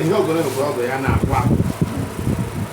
Ihe ogologo bụ ọgụ ya na-akwụ akwụ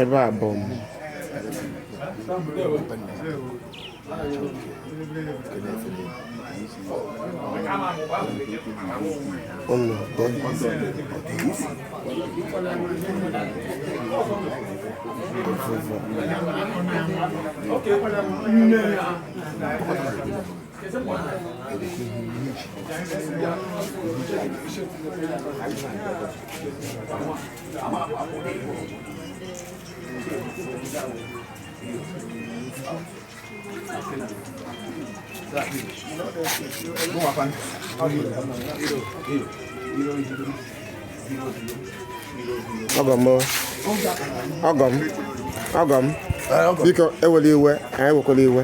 ebe a bụ ụmụ Avụvụ ọgọ m ọgọ m ọgọ m biko ewela iwe anyị wekwala iwe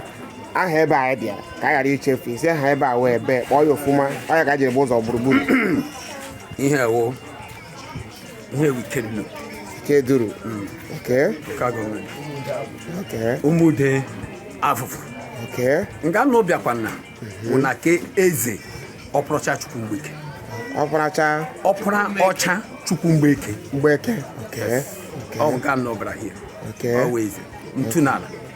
aha ebe anyị bịara ka anyị ghara ichefu isi aha ebe a wee bee kpọọ ya ofuma ọ ya ka e jiri bụ ụzọ gburugburu ihe a wụ ihe a wụ Ikeduru Ikeduru hmm. local government okay Ụmụde Avụvụ okay nga ụnụ bịakwana mhm. bụ na ke eze Ọparaọcha Chukwu Mgbeke Ọparaọcha Ọparaọcha Chukwu Mgbeke Mgbeke okay ọ nga ụnụ bịara hie ọ wee eze ntu n'ala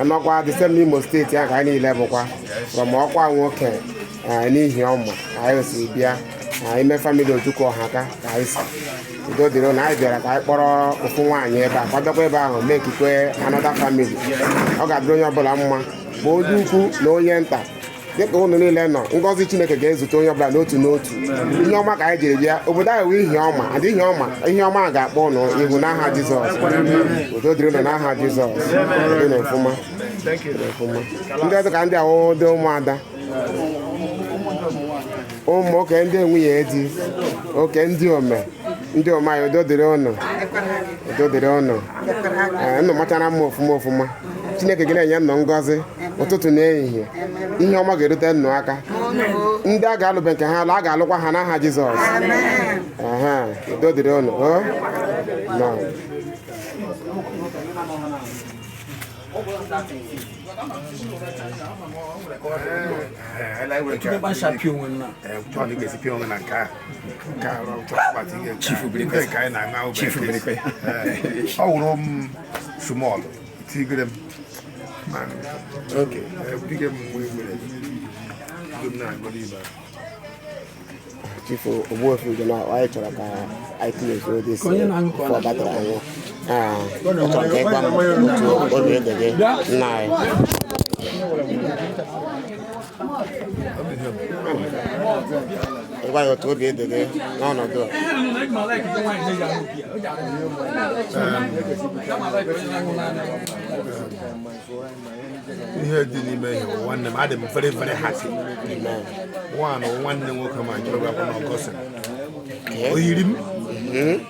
anọkwa the same Imo steeti ahụ ka anyị niile bụkwa from ọkwa nwoke eh, n'ihe ọma ka anyị si bịa eh, ime family Ojukwu Ọhaka ka anyị si udo dịrị na anyị bịara ka anyị kpọrọ ofu nwaanyị ebe a kwadokwa ebe ahụ mee ekikwe another family ọ ga-adịrị onye ọbụla mma ma onye ukwu na onye nta dịka ụnụ niile nọ ngọzi chineke ga-ezute onye ọbụla n'otu n'otu ihe ọma ka anyị jiri bịa obodo a wee ihe ọma adị ihe ọma ihe ọma ga-akpọ ụnụ ihu n'aha jizọs udo dịrị ụnụ n'aha jizọs dị n'ofụma ndị ọzọ ka ndị a wụ ndị ụmụada mm okay ndị nwunye di okay ndị ome ndị ome anyị udo dịrị ụnụ udo dịrị ụnụ ee nnụ machara mma ofụma ofụma chineke ga na-enye nnụ ngọzi ụtụtụ na ehihie ihe ọma ga-erute nnụ aka ndị a ga-alụbe nke ha alụ a ga-alụkwa ha n'aha jizọs ehe udo dịrị unu o nọ Ele anyị nwere ike- Chukwu gbasapịa onwe m na. Eh, chọọ na ị ga-esi pịa onwe na nke ahụ. ọ wụrụ m small tiger m chief ogbuefi dị na anyị chọrọ ka anyị kelezie ụdị si fọ batara anyị chọrọ ka ị gwa m otu obi dị gị nna anyị gwa ya otu obi dị gị n'ọnọdụ a ihe dị n'ime ihe bụ nwanne m adị m very very happy nwanụ nwanne nwoke ma jụrụ gakwa na o gosi o yiri m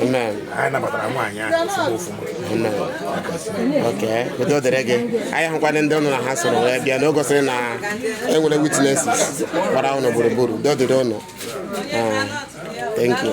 anyị nabatara nwaanyị ahụ ozugbo ọfụma udo dịrị gị anyị hụkwana ndị ụnụ na ha soro wee bịa na o gosiri na e nwere witnesses gbara ụnụ gburugburu udo dịrị ụnụ ah, thank you